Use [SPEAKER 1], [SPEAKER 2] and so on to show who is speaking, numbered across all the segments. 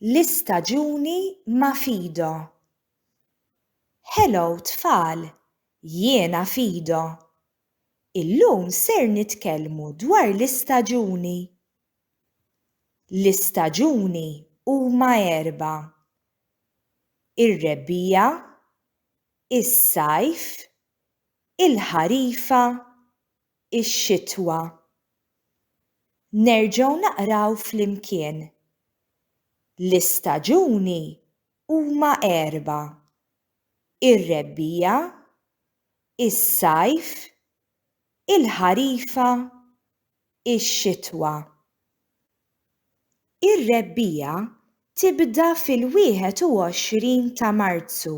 [SPEAKER 1] l-istaġuni ma' Fido. Hello tfal, jiena Fido. Illum ser nitkellmu dwar l-istaġuni. L-istaġuni huma erba'. Ir-rebbiegħa, is-sajf, il-ħarifa ix-xitwa. Nerġgħu naqraw flimkien. L-istaġuni huma erba', ir-rebbiegħa, is-sajf, il-ħarifa, ix-xitwa. Ir-rebbiegħa tibda fil-21 ta' Marzu.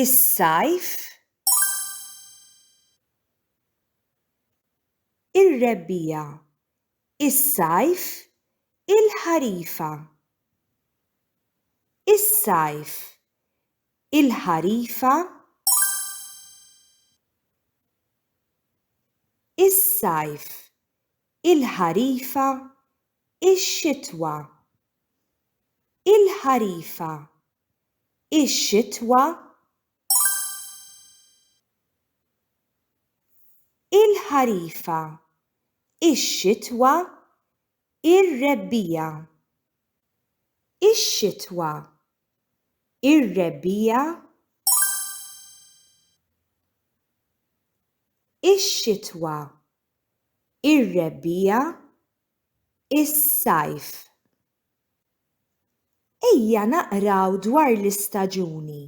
[SPEAKER 1] is-sajf, ir-rebbiegħa, is-sajf, il-ħarifa, is-sajf, il-ħarifa, is-sajf, il-ħarifa, ix-xitwa, il-ħarifa. Ix-xitwa Il-ħarifa Ix-xitwa Ir-rebbiegħa Ix-xitwa Ir-rebbiegħa Ix-xitwa Ir-rebbiegħa Is-sajf Ejja naqraw dwar l-istaġuni.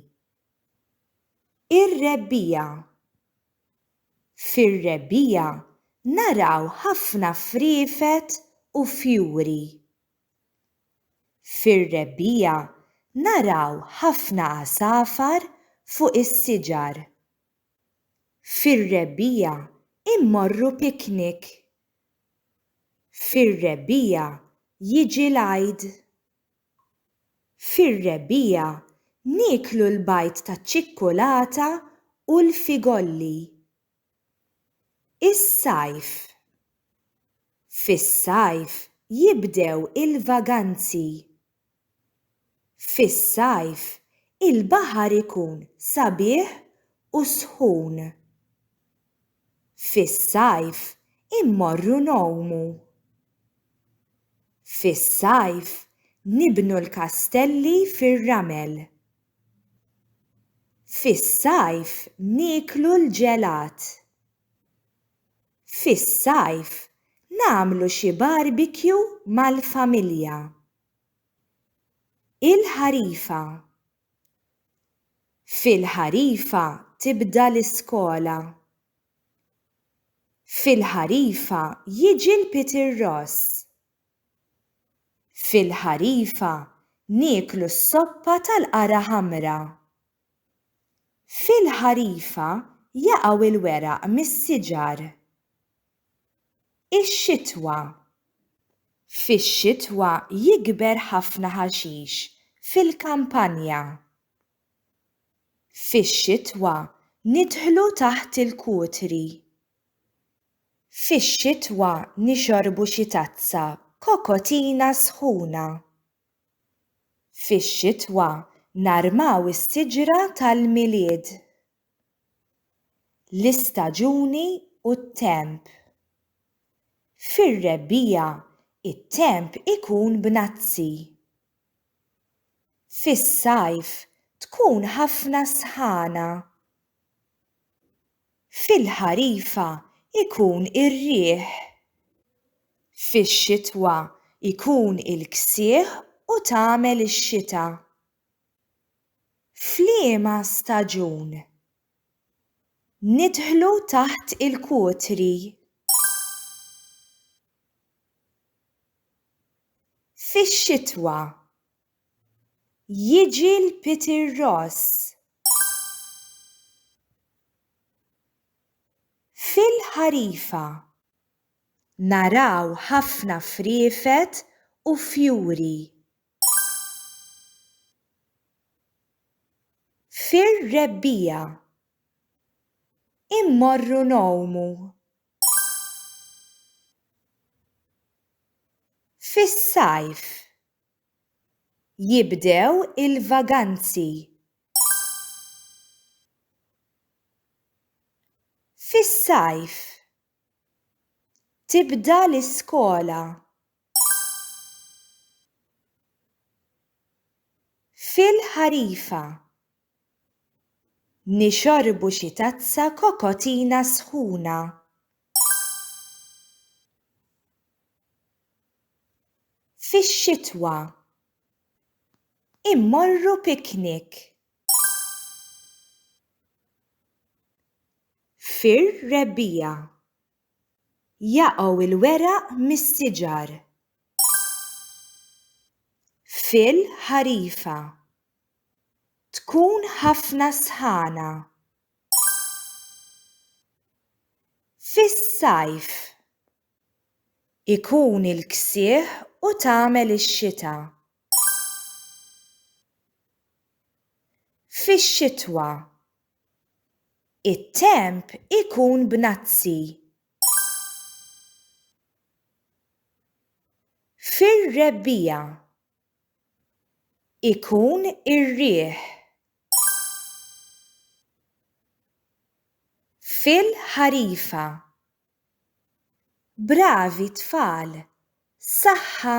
[SPEAKER 1] Ir-rebbiegħa. Fir-rebbiegħa naraw ħafna friefet u fjuri. Fir-rebbiegħa naraw ħafna għasafar fuq is-siġar. Fir-rebbiegħa immorru picnic. Fir-rebbiegħa jiġi l-Għid. Fir-rebbiegħa nieklu l-bajd taċ-ċikkulata u l-figolli. Is-sajf. Fis-sajf jibdew il-vaganzi. Fis-sajf, il-baħar ikun sabiħ u sħun. Fis-sajf, immorru ngħumu. Fis-sajf, nibnu l-kastelli fir-ramel. Fis-sajf, nieklu l-ġelat. Fis-sajf nagħmlu xi barbekju mal-familja. Il-ħarifa Fil-ħarifa tibda l-iskola. Fil-ħarifa jiġi l-Peter Ross. Fil-ħarifa nieklu s-soppa tal-qara ħamra. Fil-ħarifa jaqgħu l-weraq mis-siġar. Ix-xitwa Fix-xitwa jikber ħafna ħaxix fil-kampanja. Fix-xitwa nidħlu taħt il-kutri. Fix-xitwa nixorbu xi tazza kokotina sħuna. Fix-xitwa narmaw is-siġra tal-Milied. L-istaġuni u t-temp. Fir-rebbiegħa t-temp ikun b'nazzi. Fis-sajf tkun ħafna s-sħana. Fil-ħarifa jkun ir-riħ. Fix-xitwa jkun il-ksieħ u tagħmel ix-xita. F'liema staġun nidħlu taħt il-kutri? Fix-xitwa Jiġi l-Peter Ross. Fil-ħarifa naraw ħafna friefet u fjuri. Fir-rebbiegħa immorru ngħumu. Fis-sajf Jibdew il-vaganzi. Fis-sajf. Tibda l-iskola. Fil-ħarifa. Nixorbu xi tazza kokotina sħuna. Fix-xitwa. Immorru picnic. Fir-rebbiegħa. Jaqgħu l-weraq mis-siġar. Fil-ħarifa. Tkun ħafna sħana. Fis-sajf ikun il-ksieħ u tagħmel ix-xita. Fix-xitwa it-temp ikun b'nazzi. Fir-rebbiegħa ikun ir-riħ. Fil-ħarifa. Bravi tfal, saħħa!